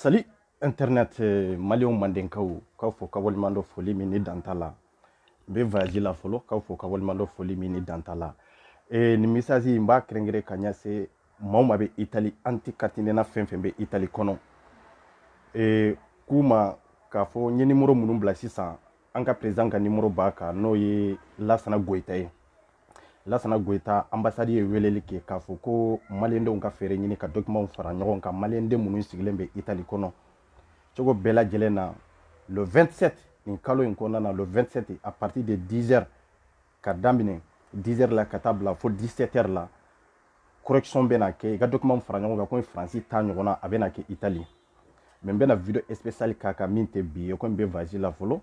Salut internet mali mandenkaw k'aw fo k'aw waleɲumandɔn foli min ni dan t'a la n bɛ voyage la fɔlɔ k'aw fo k'aw waleɲumandɔn foli min ni dan t'a la nin message n b'a kɛrɛnkɛrɛn ka ɲɛsin maa o maa bɛ itali an tɛ carte nina fɛn fɛn bɛ itali kɔnɔ ee k'u ma k'a fɔ n ye nimoro minnu bila sisan an ka perezidan ka nimoro b'a kan n'o ye lasana goyita ye lasana goyita anbasadi ye weleli kɛ k'a fɔ ko maliyɛndenw ka feere ɲini ka dɔkimanw fara ɲɔgɔn kan maliyɛnden minnu sigilen bɛ itali kɔnɔ cogo bɛɛ lajɛlen na le 27 nin kalo in kɔnɔna na le 27 à partir de 10 heures ka daminɛ 10 heures la ka taa bila fo 17 heures la correction bɛ na kɛ i ka document fara ɲɔgɔn kan komi faransi ta ɲɔgɔn na a bɛ na kɛ itali mais n bɛna video spécial k'a kan min tɛ bi ye komi n bɛ voyage la fɔlɔ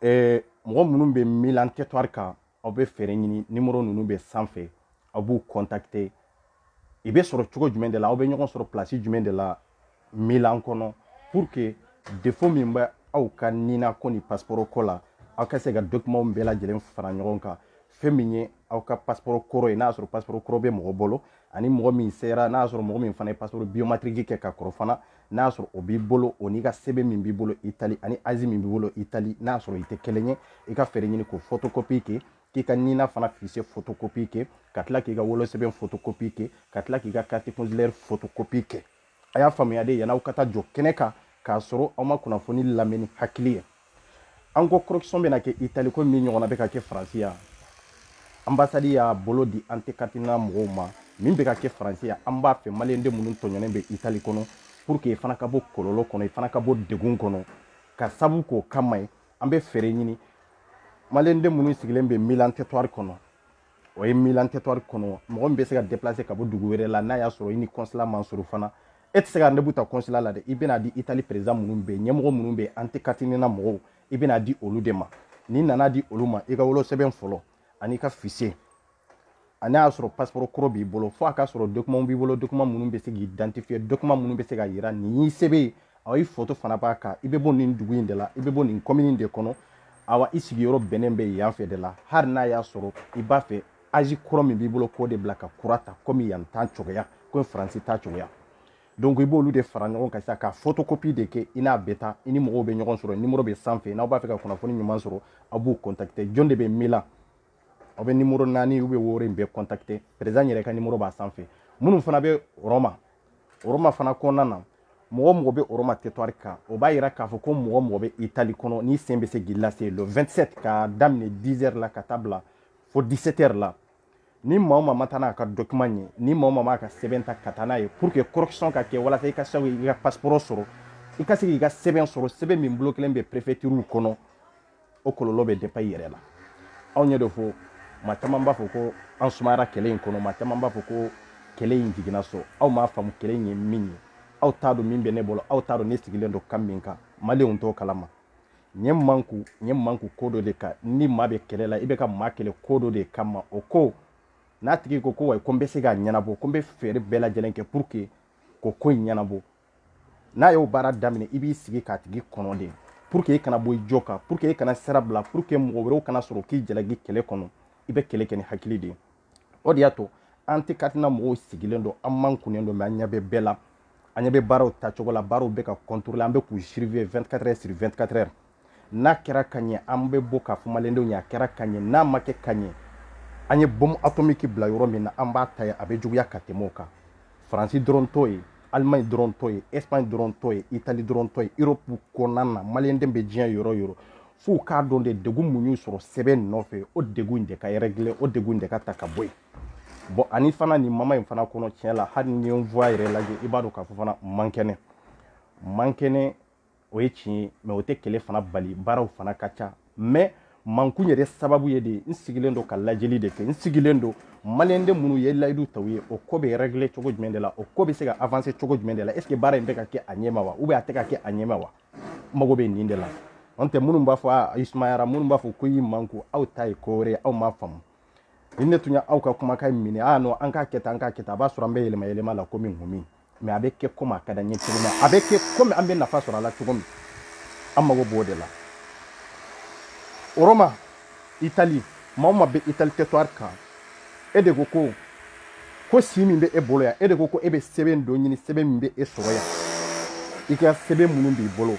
eh, mɔgɔ minnu bɛ milan territoire kan aw bɛ feere ɲini nimoro ninnu bɛ sanfɛ aw b'u contacter i bɛ sɔrɔ cogo jumɛn de la aw bɛ ɲɔgɔn sɔrɔ place jumɛn de la milan kɔnɔ pour que défaut min bɛ aw ka nina ko ni pasiporo ko la aw ka se ka dokumanw bɛɛ lajɛlen fara ɲɔgɔn kan fɛn min ye aw ka pasiporo kɔrɔ ye n'a sɔrɔ pasiporo kɔrɔ bɛ mɔgɔ bolo ani mɔgɔ min sera n'a sɔrɔ mɔgɔ min fana ye pasiporo biométrique kɛ ka kɔrɔ fana n'a sɔrɔ o b'i bolo o n'i ka sɛbɛn min b'i bolo itali ani azi min b'i bolo itali n'a sɔrɔ i tɛ kelen ye i ka feere ɲini k'o photocopie kɛ k'i ka nina fana fiche photocopie kɛ ka tila k'i ka wolosɛbɛn photocopie kɛ ka tila k'i ka carte consulaire photocopie kɛ a y'a faamuya dɛ yann'aw ka taa jɔ kɛnɛ kan k'a sɔrɔ aw ma kunnafoni lamɛn ni hakili ye an ko correction bɛna kɛ itali ko min ɲɔgɔnna bɛ ka kɛ faransi yan anbasadi y'a bolo di an tɛ carte nina mɔgɔw ma min bɛ ka kɛ faransi yan an b'a fɛ maliyɛnden minnu tɔɲɔnen bɛ itali kɔnɔ pour que i fana ka bɔ kɔlɔlɔ kɔnɔ i fana ka bɔ degun kɔnɔ k'a sabu k'o kama ye an bɛ feere ɲini maliyɛnden minnu sigilen bɛ milan territoire kɔnɔ o ye milan territoire kɔnɔ mɔgɔ min bɛ se ka deplase ka bɔ dugu wɛrɛ la n'a y'a sɔrɔ i ni kɔnsila man surun fana e tɛ se ka rendez-vous ta kɔnsila la dɛ i bɛna di itali perezidan minnu bɛ yen ɲɛmɔgɔ minnu bɛ yen an tɛ carte nina mɔgɔw i bɛna di olu de ma n'i nana di olu ma i ka wolosɛbɛn fɔlɔ ani i ka fiche ani n'a y'a sɔrɔ pasiporo kɔrɔ b'i bolo fo a k'a sɔrɔ dokumanw b'i bolo dokuman minnu bɛ se k'i identifier dokuman minnu bɛ se k'a yira nin y'i sɛbɛn ye awa i foto fana b'a kan i bɛ bɔ nin dugu in de la i bɛ bɔ nin kɔmini de kɔnɔ awa i sigiyɔrɔ bɛnnen bɛ yan fɛ de la hali n'a y'a sɔrɔ i b'a fɛ azi kɔrɔ min b'i bolo k'o de bila ka kura ta komi yan ta cogoya komi faransi ta cogoya donc i b'olu de fara ɲɔgɔn kan sisan ka photocopie de kɛ i n'a bɛ taa i ni mɔgɔw bɛ ɲɔgɔn sɔrɔ nimoro bɛ sanfɛ n'aw b'a fɛ ka kunnafoni ɲuman sɔrɔ aw b'u contacter jɔn de bɛ milan aw bɛ nimoro naani u bɛ wɔɔrɔ in bɛɛ kɔntakite perezan yɛrɛ ka nimoro b'a sanfɛ minnu fana bɛ rɔma rɔma fana kɔnɔna na mɔgɔ o mɔgɔ bɛ rɔma teritwari kan o b'a yira k'a fɔ ko mɔgɔ o mɔgɔ bɛ itali kɔnɔ n'i sen bɛ se k'i lase le 27 ka daminɛ 10 heures la ka taa bila fo 17 heures la ni maa o maa ma taa n'a ka document ye ni maa o maa b'a ka sɛbɛn ta ka taa n'a ye pour que correction ka kɛ walasa i ka se k'i ka passeport sɔrɔ i ka se k'i ka sɛbɛn sɔrɔ sɛbɛn min bilokelen bɛ prefecture kɔnɔ o kɔlɔlɔ bɛ depan i yɛrɛ la anw ɲɛ de fɔ maa caman b'a fɔ ko an sumayara kɛlɛ in kɔnɔ maa caman b'a fɔ ko kɛlɛ in jiginna so aw m'a faamu kɛlɛ in ye min ye aw t'a dɔn min bɛ ne bolo aw t'a dɔn ne sigilen don kan min kan maliyɛnw t'o kalama n ye n manku n ye n manku ko dɔ de kan ni maa bɛ kɛlɛ la i bɛ ka maa kɛlɛ ko dɔ de kama o ko n'a tigi ko ko wayi ko n bɛ se k'a ɲɛnabɔ ko n bɛ fɛɛrɛ bɛɛ lajɛlen kɛ pour que k'o ko in ɲɛnabɔ n'a y'o baara daminɛ i b'i sigi k'a tigi kɔnɔ de pour que i kana bɔ i jo kan pour que i kana sira bila pour que mɔgɔ wɛrɛw kana sɔrɔ k'i jalaki kɛlɛ kɔnɔ i bɛ kɛlɛ kɛ ni hakili de ye o de y'a to an tɛ katina mɔgɔw sigilen don an mankunnen don mɛ an ɲɛ bɛ bɛɛ la an ɲɛ bɛ baaraw taacogo la baaraw bɛ ka contrôler an bɛ k'u surveiller 24 heures sur 24 heures n'a kɛra ka ɲɛ an bɛ bɔ k'a fɔ maliyɛndenw ye a kɛra ka ɲɛ n'a ma kɛ ka ɲɛ an ye bɔmu atomiki bila yɔrɔ min na an b'a ta yen a bɛ juguya ka tɛmɛ o kan faransi dɔrɔn t'o ye alimaɲi dɔrɔn t'o ye espaɲi dɔrɔn t'o ye itali dɔrɔn t'o ye erɔpu kɔnɔna na maliyɛnden bɛ diɲɛ yɔrɔ o yɔrɔ f'u k'a dɔn de degun min y'u sɔrɔ sɛbɛn nɔfɛ o degun in de ka rɛgile o degun in de ka ta ka bɔ yen bɔn ani fana nin moment in fana kɔnɔ tiɲɛ la hali n'i ye n voix yɛrɛ lajɛ i b'a dɔn k'a fɔ fana n man kɛnɛ n man kɛnɛ o ye tiɲɛ ye mɛ o tɛ kɛlɛ fana bali baaraw fana ka ca mɛ mankun yɛrɛ sababu ye de n sigilen don ka lajɛli de kɛ n sigilen don maliyɛnden minnu ye layidu ta aw ye o ko bɛ rɛgile cogo jumɛn de la o ko bɛ se ka avanse cogo jumɛn de la est-ce baara in bɛ ka kɛ a ɲɛma wa u bɛ a tɛ ka kɛ a ɲɛma wa n mago bɛ nin de la n'o tɛ minnu b'a fɔ a i sumayara minnu b'a fɔ ko i y'i manku aw ta ye ko wɛrɛ ye aw m'a faamu ni ne tun ye aw ka kumakan minɛ a nɔ an k'a kɛ tan an k'a kɛ tan a b'a sɔrɔ an bɛ yɛlɛma yɛlɛma la komi nkomi mɛ a bɛ kɛ komi a ka d'an ye cogo min a bɛ kɛ komi an bɛ nafa sɔrɔ a la cogo min an mago b'o de la o rɔma itali maa o maa bɛ itali teritwari kan e de ko ko ko si min bɛ e bolo yan e de ko ko e bɛ sɛbɛn dɔ ɲini sɛbɛn min bɛ e sɔrɔ yan i ka sɛbɛn minnu b'i bolo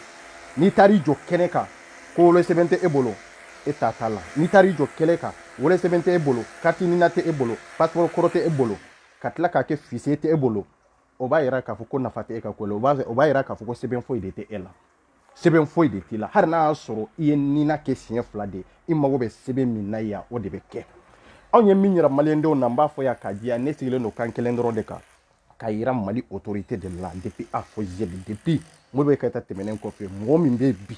n'i taar'i jɔ kɛnɛ kan ko wolosɛbɛn tɛ e bolo e ta t'a la n'i taar'i jɔ kɛnɛ kan wolosɛbɛn tɛ e bolo kariti nina tɛ e bolo pasipɔrɔ kɔrɔ tɛ e bolo ka tila k'a kɛ fise tɛ e bolo o b'a yira k'a fɔ ko nafa tɛ e ka ko la o b'a yira k'a fɔ ko sɛbɛn foyi de tɛ e la sɛbɛn foyi de t'i la hali n'a y'a sɔrɔ i ye nina kɛ siɲɛ fila de i mago bɛ sɛbɛn min na yan o de bɛ kɛ anw ye min yira maliyɛndenw na n b'a fɔ yan k'a jɛya ne sigilen don kan kelen dɔrɔn de kan k'a yira mali otorite de la depuis a fɔ zɛli depuis Modibo Keita tɛmɛnen kɔfɛ mɔgɔ min bɛ bi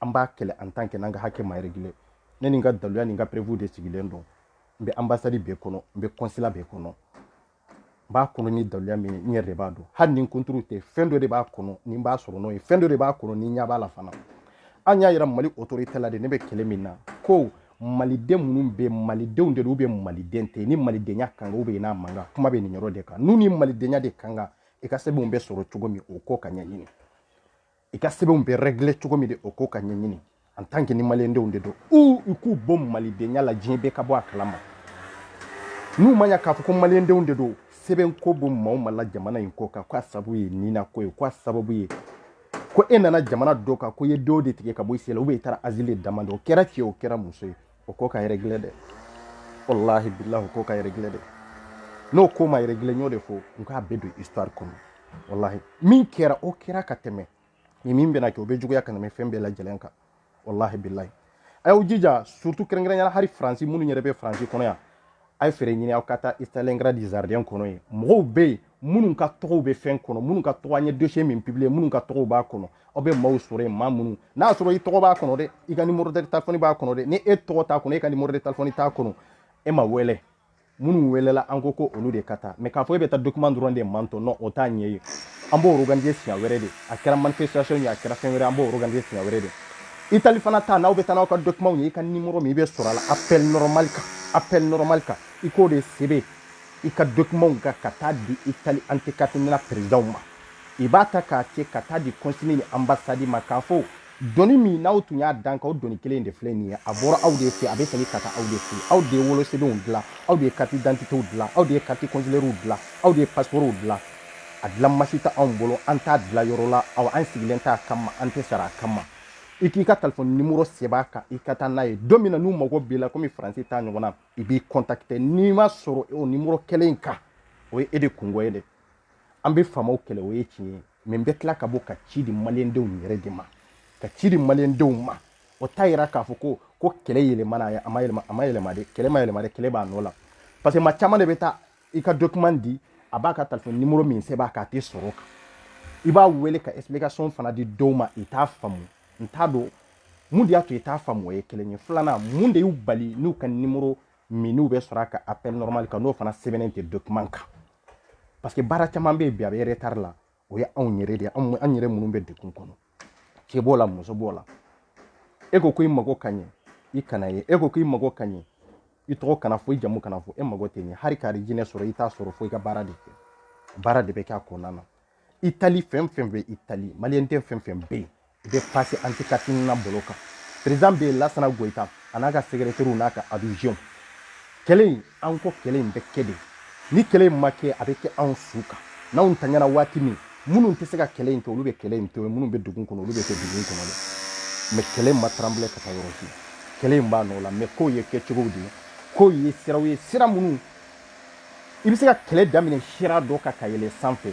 an b'a kɛlɛ en tant que n'an ka hakɛ ma régler ne ni n ka daluya ni n ka preuve de sigilen don n bɛ anbasadi bɛɛ kɔnɔ n bɛ kɔnsila bɛɛ kɔnɔ n b'a kɔnɔ ni daluya min ye n yɛrɛ de b'a dɔn hali ni n kunturu tɛ fɛn dɔ de b'a kɔnɔ ni n b'a sɔrɔ n'o ye fɛn dɔ de b'a kɔnɔ ni n ɲɛ b'a la fana an y'a yira mali otorite la de ne bɛ kɛlɛ min na ko maliden minnu bɛ malidenw de don bɛ maliden tɛ ni malidenya ka kan u bɛ yen n'a man kan kuma bɛ nin yɔrɔ de kan n'u ni malidenya de ka kan i ka sɛbɛnw bɛ sɔrɔ cogo min o ko ka ɲɛɲini i ka sɛbɛnw bɛ rɛgile cogo min de o ko ka ɲɛɲini en tant que ni maliyendenw de don u u k'u bɔ malidenya la diɲɛ bɛɛ ka bɔ a kalama n'u ma ɲa k'a fɔ ko maliyendenw de don sɛbɛn ko b'u maaw ma la jamana in kɔkan ko a sabu ye nina ko ye ko a sababu ye ko e nana jamana dɔ kan ko i ye dɔ de tigɛ ka bɔ i si la ou bien i taara asile demander o kɛra cɛ o kɛra muso ye o ko ka régler dɛ wallahi billahi o ko ka régler dɛ n'o ko ma régler n y'o de fɔ n k'a bɛ don histoire kɔnɔ wallahi min kɛra o kɛra ka tɛmɛ ni min bɛna kɛ o bɛ juguya ka tɛmɛ fɛn bɛɛ lajɛlen kan wallahi billahi a y'aw jija surtout kɛrɛnkɛrɛnyala hali faransi minnu yɛrɛ bɛ faransi kɔnɔ yan a ye feere ɲini aw ka taa stalingrad jardin kɔnɔ yen mɔgɔw bɛ yen minnu ka tɔgɔw bɛ fɛn kɔnɔ minnu ka tɔgɔ an ye dossier min publier minnu ka tɔgɔw b'a kɔnɔ aw bɛ maaw sɔrɔ yen maa minnu n'a y'a sɔrɔ i tɔgɔ b'a kɔnɔ dɛ i ka numéro de téléphone b'a kɔnɔ dɛ ni e tɔgɔ t'a kɔnɔ e ka numéro de téléphone t'a kɔnɔ e ma wele minnu welela an ko ko olu de ka taa mais k'a fɔ e bɛ taa document dɔrɔn de maintenant o t'a ɲɛ ye an b'o organise siɲɛ wɛrɛ de a kɛra manifestation ye a kɛra fɛn wɛrɛ an b'o organise siɲɛ wɛrɛ de Italie fana ta n'aw bɛ taa n'aw ka document ye i ka numéro min i bɛ sɔrɔ a la appel normal kan appel normal kan i k'o de sɛbɛn i ka document kan ka taa di Italie anticatemina président ma i b'a ta k'a kɛ ka taa di consul ni ambassade ma k'a fɔ doni min n'aw tun y'a da an kan o doni kelen de filɛ nin ye a bɔra aw de fɛ a bɛ segin ka taa aw de fɛ aw de ye wolosɛbɛnw dilan aw de ye carte d'identitew dilan aw de ye carte consulaires dilan aw de ye passeportw dilan a dilan mansin tɛ anw bolo an t'a dilan yɔrɔ la aw an sigilen t'a kama an tɛ sara a kama i k'i ka telefɔni nimoro sɛbɛn a kan i ka taa n'a ye don min na n'u mago b'i la komi faransi ta ɲɔgɔn na u b'i kɔntakite n'i ma sɔrɔ o nimoro kelen in kan o ye e de kunko ye dɛ an bɛ faamaw kɛlɛ o ye tiɲɛ ye mais n bɛ tila ka bɔ ka ci di maliyɛndenw yɛrɛ de ma ka ci di maliyɛndenw ma o t'a yira k'a fɔ ko ko kɛlɛ yɛlɛmana a ma yɛlɛma a ma yɛlɛma de kɛlɛ ma yɛlɛma de kɛlɛ b'a nɔ la parce que maa caman de bɛ taa i ka document di a b'a ka telefɔni nimoro min sɛbɛn a kan a tɛ sɔrɔ a kan i b'a wele ka explication fana di dɔw ma i t'a faamu n t'a dɔn mun de y'a to i t'a faamu o ye kelen ye filanan mun de y'u bali n'u ka nimoro min n'u bɛ sɔrɔ a ka appel normal kan n'o fana sɛbɛnnen tɛ document kan parce que baara caman bɛ yen bi a bɛ retard la o ye anw yɛrɛ de ye an yɛrɛ minnu bɛ dekun kɔnɔ cɛ b'o la muso b'o la e ko ko i mago ka ɲɛ i kana ye e ko ko i mago ka ɲɛ i tɔgɔ kana fɔ i jamu kana fɔ e mago tɛ ɲɛ hali k'arijinɛ sɔrɔ i t'a sɔrɔ fo i ka baara de kɛ baara de bɛ kɛ a kɔnɔna na itali fɛn fɛn bɛ itali maliyɛnden fɛn fɛn bɛ yen I bɛ pase anti carte Nina bolo kan perezidan lasana goyita a n'a ka sɛgɛrɛteriw n'a ka adjoint kɛlɛ in an ko kɛlɛ in bɛ kɛ de ni kɛlɛ in ma kɛ a bɛ kɛ anw su kan n'anw tanyana waati min minnu tɛ se ka kɛlɛ in kɛ olu bɛ kɛlɛ in to yen minnu bɛ dugu kɔnɔ olu bɛ kɛ dugu kɔnɔ dɛ mɛ kɛlɛ in ma taranbilɛ ka taa yɔrɔ si kɛlɛ in b'a nɔ la mɛ ko ye kɛcogow de ye ko ye siraw ye sira minnu i bɛ se ka kɛlɛ daminɛ sira dɔ kan ka yɛlɛ sanfɛ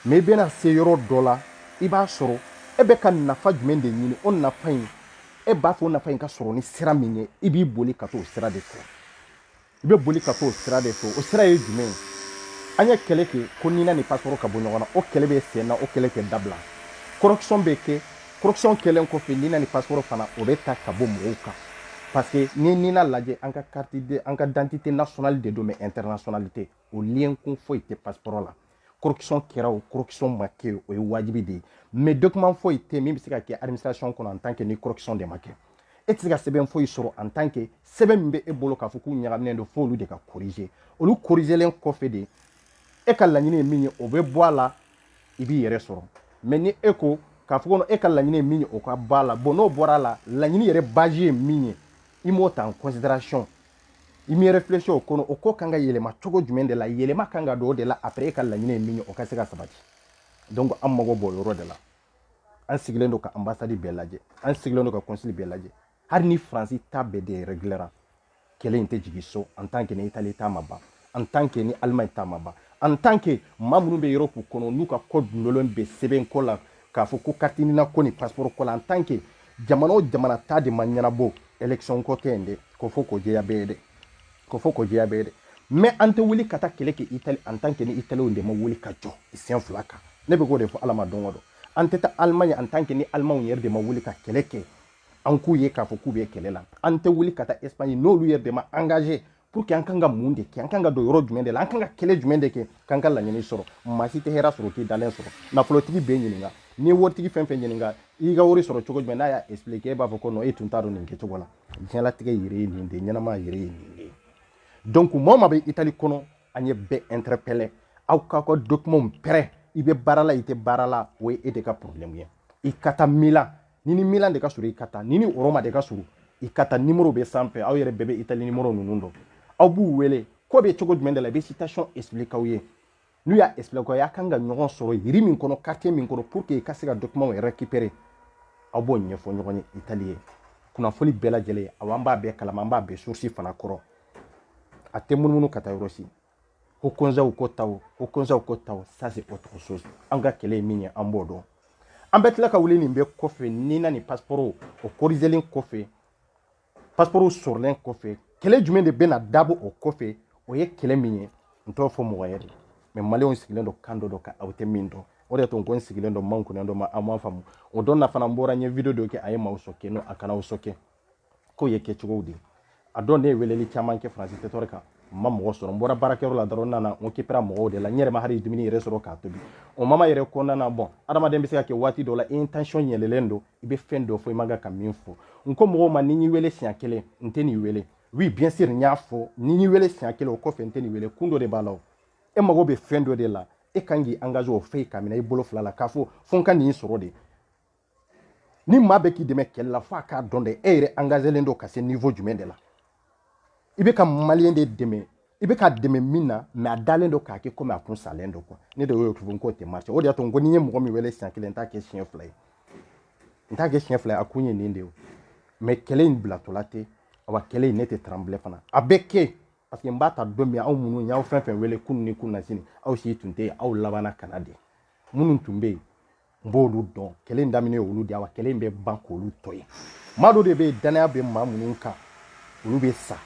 Mais i bɛna se yɔrɔ dɔ la, i b'a sɔrɔ e bɛ ka nafa jumɛn de ɲini, o nafa in e b'a fɛ o nafa in ka sɔrɔ ni sira min ye, i bɛ boli ka t'o sira de fɛ. I bɛ boli ka t'o sira de fɛ, o sira ye jumɛn ye? An ye kɛlɛ kɛ ko Nina ni passeport ka bɔ ɲɔgɔn na, o kɛlɛ bɛ sen na, o kɛlɛ tɛ dabila. Correction bɛ kɛ, correction kɛlen kɔfɛ Nina ni passeport fana o bɛ ta ka bɔ ɲɔgɔn kan. Parce que n'i ye Nina lajɛ, an ka carte de, an ka identité nationale de don mais internationalité. o lien kun foyi tɛ passeport la correction kɛra o correction ma kɛ o ye wajibi de ye mais document foyi tɛ min bɛ se ka kɛ administration kɔnɔ en tant que ni correction de ma kɛ e tɛ se ka sɛbɛn foyi sɔrɔ en tant que sɛbɛn min bɛ e bolo k'a fɔ k'u ɲagaminen don f'olu de ka corriger olu corrigelen kɔfɛ de e ka laɲini ye min ye o bɛ bɔ a la i b'i yɛrɛ sɔrɔ mais ni e ko k'a fɔ ko e ka laɲini ye min ye o ka bɔ a la bon n'o bɔra a la laɲini yɛrɛ base ye min ye i m'o ta en considération i m'i réfléchir o kɔnɔ o ko kan ka yɛlɛma cogo jumɛn de la yɛlɛma kan ka don o de la après e ka laɲini ye min ye o ka se ka sabati donc an mago b'o yɔrɔ de la an sigilen don ka ambassade bɛɛ lajɛ an sigilen don ka consul bɛɛ lajɛ hali ni faransi ta bɛɛ de reglera kɛlɛ in tɛ jigin so en tant que ni itali ta ma ban en tant que ni Allemagne ta ma ban en tant que maa minnu bɛ Europe kɔnɔ n'u ka ko dulonnen bɛ sɛbɛn ko la k'a fɔ ko carte Nina ko ni passeport ko la en tant que jamana o jamana ta de ma ɲɛnabɔ élection ko tɛ yen dɛ k'o fɔ k'o jɛya bɛɛ ye dɛ k'o fɔ k'o jɛya bɛɛ ye dɛ mais an tɛ wuli ka taa kɛlɛ kɛ Italie en tant que ni Italienw de ma wuli ka jɔ sen fila kan ne bɛ k'o de fɔ Ala ma don o don an tɛ taa Allemagne en tant que ni Allemagne yɛrɛ de ma wuli ka kɛlɛ kɛ an k'u ye k'a fɔ k'u bɛ kɛlɛ la an tɛ wuli ka taa Espagne n'olu yɛrɛ de ma engagé pour que an kan ka mun de kɛ an kan ka don yɔrɔ jumɛn de la an kan ka kɛlɛ jumɛn de kɛ k'an ka laɲini sɔrɔ maa si tɛ hɛrɛ sɔrɔ k'i dalen sɔrɔ nafolotigi bɛɛ ɲininka ni waritigi fɛn fɛn ɲininka i ka wari sɔrɔ cogo jumɛn n'a y'a expliquer e b'a fɔ ko non e tun t'a dɔn nin kɛcogo la diɲɛlatigɛ yɛrɛ ye nin de ɲɛnamaya yɛrɛ ye nin de donc mɔɔ min bɛ itali kɔnɔ an ye bɛɛ interpellé aw k'aw ka documentw pɛrɛ i bɛ baara la i tɛ baara la o ye e de ka problème ye i ka taa milan ni ni milan de ka surun i ka taa ni ni roma de ka surun i ka taa nimoro bɛ sanfɛ aw yɛrɛ bɛɛ bɛ itali nimoro ninnu dɔn aw b'u wele ko bɛ cogo jumɛn de la i bɛ situation explique aw ye n'u y'a explique aw ye aw kan ka ɲɔgɔn sɔrɔ ville min kɔnɔ quartier min kɔnɔ pour que i ka se ka document récupérer aw b'o ɲɛfɔ ɲɔgɔn ye itali ye kunnafoni bɛɛ lajɛlen aw an b'a bɛɛ kalama an b'a bɛɛ source fana kɔrɔ a tɛ munumunu ka taa yɔrɔ si ko kɔnzɛw ko taw ko kɔnzɛw ko taw ça c'est autre chose an ka kɛlɛ ye min ye an b'o dɔn an bɛ tila ka wuli nin bɛɛ kɔfɛ ni na nin pasiporo o korizelen kɔfɛ pasiporo sɔrɔlen kɔfɛ kɛlɛ jumɛn de bɛna dabɔ o kɔfɛ o ye kɛlɛ min ye n t'o fɔ mɔgɔ ye de mɛ maliyɛnw sigilen don kan dɔ dɔ ka aw tɛ min dɔn o de tun ko n sigilen don man kunnɛ dɔ ma aw ma faamu o don na fana n bɔra n ye video dɔ kɛ a ye maaw choqué non a kana aw choqué k'o ye kɛcogow de ye a dɔn ne ye weleli caman kɛ faransi territoire kan n ma mɔgɔ sɔrɔ n bɔra baarakɛyɔrɔ la dɔrɔn nana n kipra mɔgɔw de la n yɛrɛ ma hali dumuni yɛrɛ sɔrɔ k'a tobi o moment yɛrɛ kɔnɔna na bɔn adamaden bɛ se ka kɛ waati dɔ la i tension yɛlɛlen don i bɛ fɛn dɔ fɔ i man kan ka min fɔ n ko mɔgɔw ma ni n y'i wele siɲɛ kelen n tɛ n'i wele oui bien sûr n y'a fɔ ni n y'i wele siɲɛ kelen o kɔfɛ n tɛ n'i wele kun dɔ de b'a la o e mago bɛ fɛn dɔ de la e kan k'i engage o fɛ k'a minɛ i bolo fila la k'a fɔ fo n ka nin sɔrɔ de ni maa bɛ k'i dɛmɛ kɛlɛ la f'a k'a dɔn dɛ e yɛrɛ angazelen don ka se nivo jumɛn de la i bɛ ka maliyɛn de dɛmɛ i bɛ k'a dɛmɛ min na mɛ a dalen don k'a kɛ komi a kun salen don kuwa ne de y'o tugu n k'o tɛ marche o de y'a to n ko n'i ye mɔgɔ min wele siɲɛ kelen n t'a kɛ siɲɛ fila ye n t'a kɛ siɲɛ fila ye a kun ye nin de ye mɛ kɛlɛ in bilatɔla tɛ awa kɛlɛ in ne tɛ tranbile fana a bɛ kɛ parce que n b'a ta don min aw minnu y'aw fɛn fɛn wele kunun ni kunasini aw si tun tɛ yen aw labanna ka na de minnu tun bɛ yen n b'olu dɔn kɛlɛ daminɛ olu de wa kɛlɛ bɛ ban k'olu to yen maa dɔ de bɛ dannaya bɛ maa minnu kan olu bɛ sa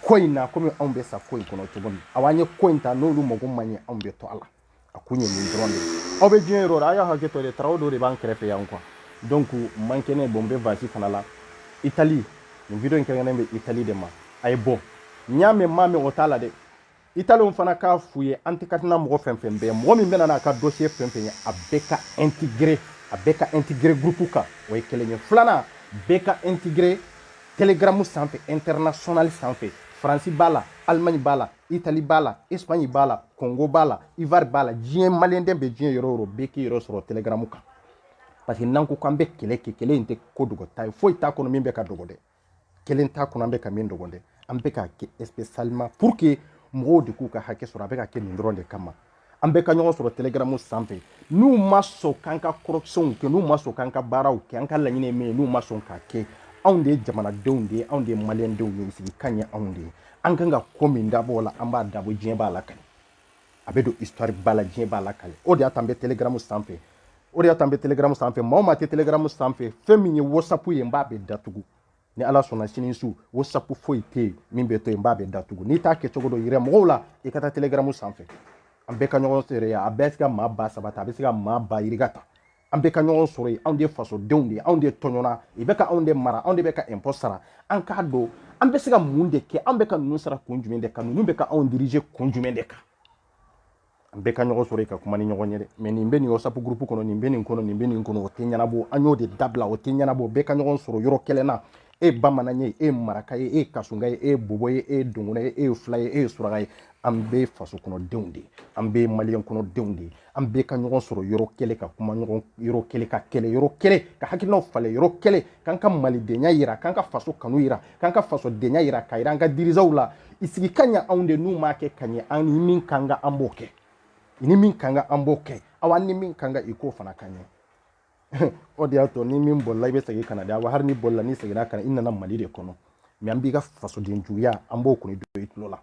ko in na komi anw bɛ sa ko in kɔnɔ cogo min aw an ye ko in ta n'olu mago ma ɲɛ anw bɛ to a la a kun ye nin dɔrɔn de aw bɛ diɲɛ yɔrɔ aw ye hakɛ to de travaux dɔ de b'an kɛrɛfɛ yan kuwa donc mankan ka bon n bɛ vasi fana la itali nin video in kɛrɛnkɛrɛnnen bɛ itali de ma a ye bɔ n y'a mɛn n m'a mɛn o t'a la dɛ italienw fana k'a f'u ye an tɛ ka tɛna mɔgɔ fɛn fɛn bɛɛ mɔgɔ min bɛna n'a ka dosiye fɛn fɛn ye a bɛɛ ka integre a bɛɛ ka integre groupe kan o ye kelen ye filanan bɛɛ ka integre telegramu sanfɛ international sanfɛ faransi b'a la alimaɲi b'a la itali b'a la espaɲi b'a la kongo b'a la ivoire b'a la diɲɛ maliyɛnden bɛ diɲɛ yɔrɔ yɔrɔ bɛɛ k'i yɔrɔ sɔrɔ telegramu kan parce que n'an ko k'an bɛ kɛlɛ kɛ kɛlɛ in tɛ ko dogota ye foyi t'a kɔnɔ min bɛ ka dogo dɛ kelen t'a kɔnɔ an bɛ ka min dogo dɛ an bɛ k'a kɛ spécialement pour que mɔgɔw de k'u ka hakɛ sɔrɔ a bɛ ka kɛ nin dɔrɔn de kama an bɛɛ ka ɲɔgɔn sɔrɔ telegramu sanfɛ n'u ma sɔn k'an ka correctionw kɛ n'u ma sɔn k'an ka baaraw kɛ an ka laɲini ye min ye n'u ma sɔn k'a kɛ anw de ye jamanadenw de ye anw de ye malidenw ye sigi kan ye anw de ye an kan ka ko min dabɔ o la an b'a dabɔ diɲɛ b'a lakali a bɛ don histoire ba la diɲɛ b'a lakali o de y'a t'an bɛ telegram sanfɛ o de y'a t'an bɛ telegram sanfɛ maa o maa tɛ telegram sanfɛ fɛn min ye whatsapp ye n b'a bɛɛ datugu ni ala sɔnna sini su whatsapp foyi tɛ yen min bɛ to yen n b'a bɛɛ datugu n'i t'a kɛcogo dɔn yira mɔgɔw la i ka taa telegram sanfɛ an bɛɛ ka ɲɔgɔn sɔrɔ yen a bɛɛ se ka maa ba saba ta a bɛ se ka maa ba yirika ta an bɛɛ ka ɲɔgɔn sɔrɔ yen anw de ye fasodenw de ye anw de tɔɲɔna i bɛ ka anw de mara anw de bɛ ka impôt sara an k'a dɔn an bɛ se ka mun de kɛ an bɛ ka ninnu sara kun jumɛn de kan ninnu bɛ ka anw dirige kun jumɛn de kan an bɛɛ ka ɲɔgɔn sɔrɔ yen ka kuma ni ɲɔgɔn ye dɛ mɛ nin bɛ nin whatsapp groupe kɔnɔ nin bɛ nin kɔnɔ nin bɛ nin kɔnɔ o tɛ ɲɛnabɔ an y'o de dabila o tɛ ɲɛnabɔ bɛɛ ka ɲɔgɔn sɔrɔ yɔrɔ kelen na e ye bamanan ye e ye maraka ye e ye kasunka ye e ye bobo ye e ye dɔgɔnɔ ye e ye fila ye e ye suraka ye an bɛɛ faso kɔnɔdenw de ye an bɛɛ maliyɛn kɔnɔdenw de ye an bɛɛ ka ɲɔgɔn sɔrɔ yɔrɔ kelen ka kuma ɲɔgɔn yɔrɔ kelen ka kɛlɛ yɔrɔ kelen ka hakilinaw falen yɔrɔ kelen k'an ka malidenya yira k'an ka faso kanu yira k'an ka fasodenya yira ka yira an ka dirigeantw la i sigi kan ye anw de n'u m'a kɛ ka ɲɛ an ni min kan ka an b'o kɛ ni min kan ka an b'o kɛ aw an ni min kan ka i k'o fana ka ɲɛ o de y'a to ni min bolila i bɛ segin ka na de wa hali ni bolila n'i seginna ka na i nana mali de kɔnɔ mɛ an b'i ka fasoden juguya an b'o kɔni don i tulo la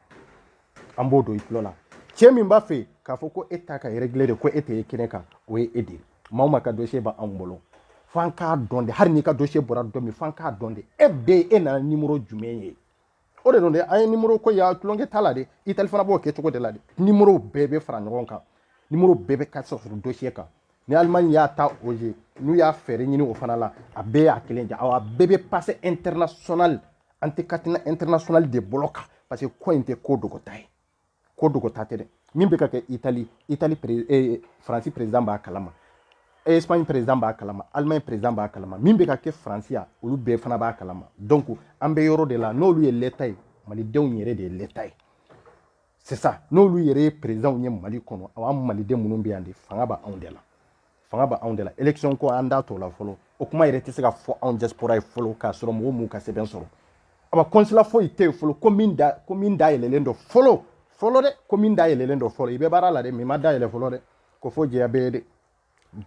an b'o don i tulo la cɛ min b'a fɛ k'a fɔ ko e ta ka régler de ko e tɛ ye kɛnɛ kan o ye e de ye maa o maa ka dossier bɛ anw bolo f'an k'a dɔn de hali n'i ka dossier bɔra don min f'an k'a dɔn de e bɛ e nana nimoro jumɛn ye o de don dɛ an ye nimoro ko ya tulonkɛ t'a la dɛ itali fana b'o kɛ cogo de la dɛ nimoro bɛɛ bɛ fara ɲɔgɔn kan nimoro bɛɛ bɛ ka sɔrɔ dosiye kan ni alimani y'a ta o ye n'u y'a fɛɛrɛ ɲini o fana la a bɛɛ y'a kelen ja awa a bɛɛ bɛ pase international an tɛ katina international de bolo kan parce que ko in tɛ ko dogota ye ko dogo ta tɛ dɛ min bɛ ka kɛ itali itali eh, faransi perezidan b'a kalama espagne perezidan b'a kalama allemagne perezidan b'a kalama min bɛ ka kɛ faransi yan olu bɛɛ fana b'a kalama donc an bɛ yɔrɔ de la n'olu ye l'état ye malidenw yɛrɛ de ye l'état ye c'est ça n'olu yɛrɛ ye perezidanw ye mali kɔnɔ anw maliden minnu bɛ yan de fanga b'anw de la fanga b'anw de la election ko an da t'o la fɔlɔ o kuma yɛrɛ tɛ se ka fɔ anw diaspora ye fɔlɔ k'a sɔrɔ mɔgɔ m'u ka sɛbɛn sɔrɔ aba consulat foyi tɛ yen fɔlɔ ko min da ko min da yɛlɛlen don fɔlɔ fɔlɔ dɛ ko min da yɛlɛlen don fɔlɔ i bɛ baara la dɛ min ma da yɛlɛ fɔlɔ dɛ ko fo jɛya bɛɛ de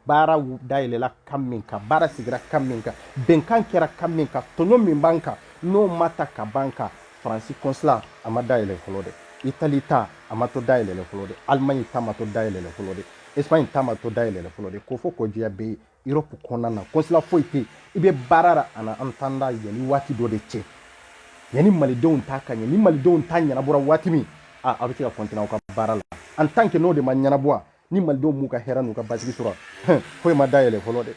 baara da yɛlɛla kan min kan baara sigira kan min kan bɛnkan kɛra kan min kan tɔɲɔ min b'an kan n'o ma ta ka b'an kan faransi consulat a ma da yɛlɛ fɔlɔ dɛ itali ta a ma to da yɛlɛlen fɔlɔ dɛ alimaɲi ta ma to da yɛlɛlen fɔlɔ dɛ Espagne ta ma to dayɛlɛla fɔlɔ de ko fo kɔjiya bɛ Europe kɔnɔna na kɔnsila foyi tɛ i bɛ baara la en attendant yanni waati dɔ de cɛ yanni malidenw ta ka ɲɛ ni malidenw ta ɲɛnabɔra waati min a aw bɛ se ka continuer aw ka baara la en tant que n'o de ma ɲɛnabɔ ni malidenw m'u ka hɛrɛ n'u ka basigi sɔrɔ foyi ma dayɛlɛ fɔlɔ dɛ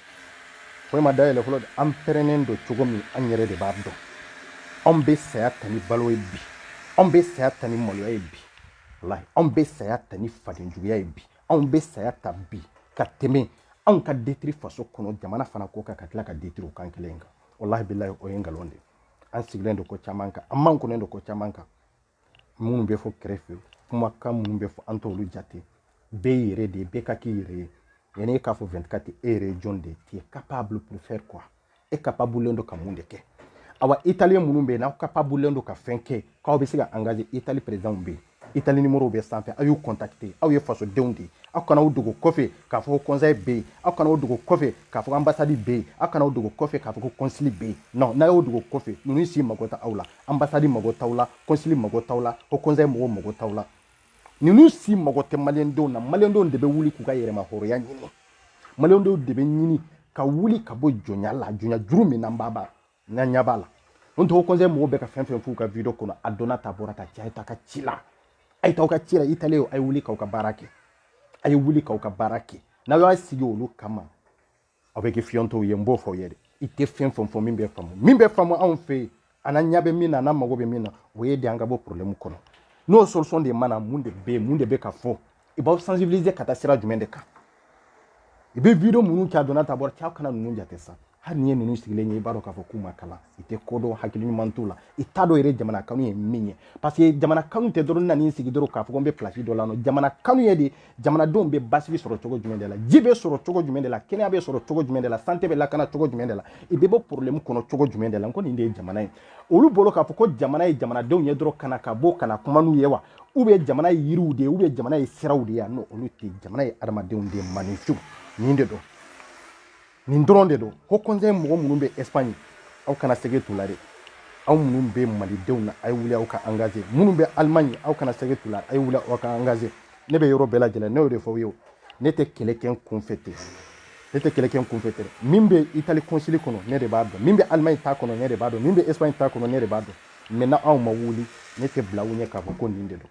foyi ma dayɛlɛ fɔlɔ dɛ an pɛrɛnnen don cogo min an yɛrɛ de b'a dɔn anw bɛ saya ta ni balo ye bi anw bɛ saya ta ni maloya ye bi walahi anw bɛ saya ta ni fadenjuguya ye bi anw bɛ saya ta bi ka tɛmɛ anw ka détruire faso kɔnɔ jamana fana ko kan ka tila ka détruire o kan kelen kan walahi bilahi o ye nkalon de ye an sigilen don ko caman kan an makunnen don ko caman kan minnu bɛ fɔ kɛrɛfɛ kumakan minnu bɛ fɔ an t'olu jate bɛɛ yɛrɛ de ye bɛɛ ka k'i yɛrɛ ye yanni e k'a fɔ 24 e yɛrɛ ye jɔn de ye tu es capable pour faire quoi e kapabulen don ka mun de kɛ awa italien minnu bɛ yen n'aw kapabulen don ka fɛn kɛ k'aw bɛ se ka engage itali présidentw bɛ yen itali nimoro bɛ sanfɛ aw y'u contacte aw ye fasodenw de ye aw kana aw dogo kɔfɛ k'a fɔ ko conseil bɛ yen aw kana aw dogo kɔfɛ k'a fɔ ko ambassade bɛ yen aw kana aw dogo kɔfɛ k'a fɔ ko kɔnsili bɛ yen non n'aw y'aw dogo kɔfɛ ninnu si mago t'aw la ambassade mago t'aw la kɔnsili mago t'aw la ko conseil mɔgɔw mago t'aw la ninnu si mago tɛ maliyɛndenw na maliyɛndenw de bɛ wuli k'u ka yɛrɛma hɔrɔnya ɲini maliyɛndenw de bɛ ɲini ka wuli ka bɔ jɔnya la jɔnya juru min n'an b'a b'a n'an ɲɛ b'a la n tɔgɔ conseil mɔgɔw bɛ ka fɛn o fɛn f'u ka video kɔnɔ a donna ta bɔra ta cɛ a ye taa ka ci la a ye taa ka ci la italien a ye wuli k'aw ka baara kɛ a ye wuli k'aw ka baara kɛ n'aw y'a sigi olu kama aw bɛ kɛ fiyentɔw ye n b'o fɔ aw ye dɛ i tɛ fɛn o fɛn fɔ min bɛ faamu min bɛ faamu anw fɛ yen anw ɲɛ bɛ min na anw mago bɛ min na o ye de an ka bɔ problème kɔnɔ n'o solution de ma na mun de bɛ yen mun de bɛ ka fɔ i b'aw sensibiliser ka taa sira jumɛn de kan i bɛ video minnu kɛ a donna ta bɔra cɛ aw kana ninnu jate sa hali n'i ye ninnu sigilen ye i b'a dɔn k'a fɔ k'u ma kalan i tɛ ko dɔn hakili ɲuman t'u la i t'a dɔn yɛrɛ jamana kanu ye min ye parce que jamana kanu tɛ dɔrɔn n nan'i sigi dɔrɔn k'a fɔ ko n bɛ place dɔ la non jamana kanu ye de jamanadenw bɛ basigi sɔrɔ cogo jumɛn de la ji bɛ sɔrɔ cogo jumɛn de la kɛnɛya bɛ sɔrɔ cogo jumɛn de la santé bɛ lakana cogo jumɛn de la i bɛ bɔ problème kɔnɔ cogo jumɛn de la n ko nin de ye jamana ye olu bolo k'a fɔ ko jamana ye jamanadenw ye dɔrɔn ka na ka bɔ ka na kuma n'u ye wa u bɛ jamana ye yiriw de ye u bɛ jamana ye siraw de ye a non olu tɛ jamana ye adamadenw de ye maninfinw nin de don nin dɔrɔn de don ko conseil mɔgɔ minnu bɛ espagne aw kana sege tula dɛ aw minnu bɛ malidenw na a ye wuli aw ka engage minnu bɛ allemagne aw kana sege tula a ye wuli aw ka engage ne bɛ yɔrɔ bɛɛ lajɛlen ne y'o de fɔ aw ye ne tɛ kɛlɛ kɛ n kunfɛ ten ne tɛ kɛlɛ kɛ n kunfɛ ten min bɛ itali konsili kɔnɔ ne de b'a dɔn min bɛ allemagne ta kɔnɔ ne de b'a dɔn min bɛ espagne ta kɔnɔ ne de b'a dɔn mais n'aw ma wuli ne tɛ bila aw ɲɛ k'a fɔ ko nin de don